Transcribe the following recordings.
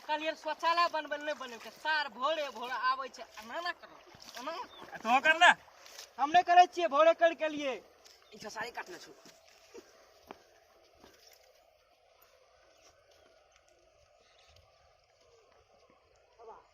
कहलियै शौचालय बनबै नहि बनेबै सार भोरे भोरे आबै छै एना ना करो एना ना करो। तो कर ले हम नहि करै छियै भोरे करि के लिए ई खेसारी काटने छौ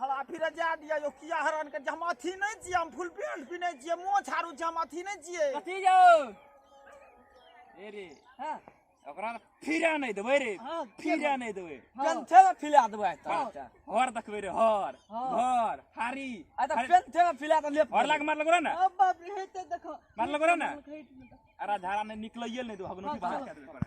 हरा फिर जा दिया यो किया हरान के हम अथी नहीं छिए हम फुल पैंट पिने छिए मुंह छाड़ू छी हम अथी नहीं छिए कथी जाओ ए रे हां ओकरा फिरा नहीं देबै रे हां फिरा नहीं देबै पेंथे में फिला देबै त हर देखबै रे हर हर हारी आ त पेंथे में फिला त लेप हर लाग मार लगो ना अब बाप रे हेते देखो मार लगो ना अरे धारा में निकलइए नहीं दो हगनो की बाहर कर देबै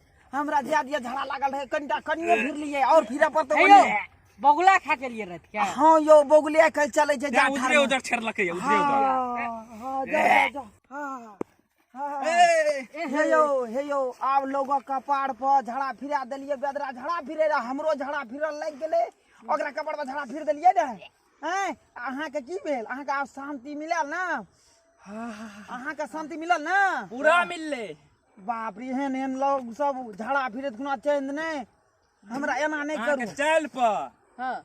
हमरा ध्यान दिया झड़ा लागल रहे कनिटा कनिए फिर लिए और फिर पर तो हेलो बगुला खा के लिए रहत क्या हां यो बगुले कल चले जे जा उधर उधर छेड़ लके उधर उधर हां जा जा हां हे यो हे यो आब लोगों का पाड़ पर झड़ा फिरा दिलिए बेदरा झड़ा फिरे रहा हमरो झड़ा फिरल लग गेले ओकरा कपड़ पर झड़ा फिर दिलिए ने हैं अहाँ के की भेल अहाँ के आब शांति मिलल ना अहाँ के शांति मिलल ना पूरा मिलले बाप रे एहन एहन लोग सब झाड़ा फिरत खुना चेंज नहीं हमरा एना नहीं अहाँ के करू चालि पर हाँ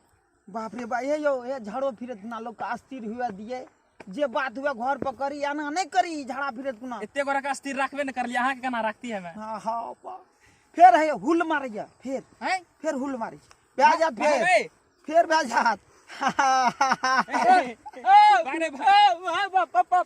बाप रे बा हे यौ हे झाड़ो फिरत खुना लोग के अस्थिर हुए दिए जे बात हुए घर पर करी एना नहीं करी झाड़ा फिरत खुना एते गोरा के स्थिर रखबे ने करलिए अहाँ के केना रखती है मैं हाँ हाँ बा फेर है हुल मारैया फेर हैं फेर हुल मारै भए जात फेर भागबै। फेर भए जात भागने भाग।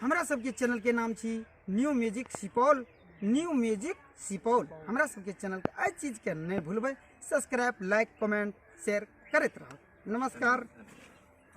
हमरा सबके चैनल के नाम छी new music Supaul new music Supaul हमरा सबके चैनल के एहि चीज के नहि भूलबै सब्सक्राइब लाइक कमेंट शेयर करैत रहब नमस्कार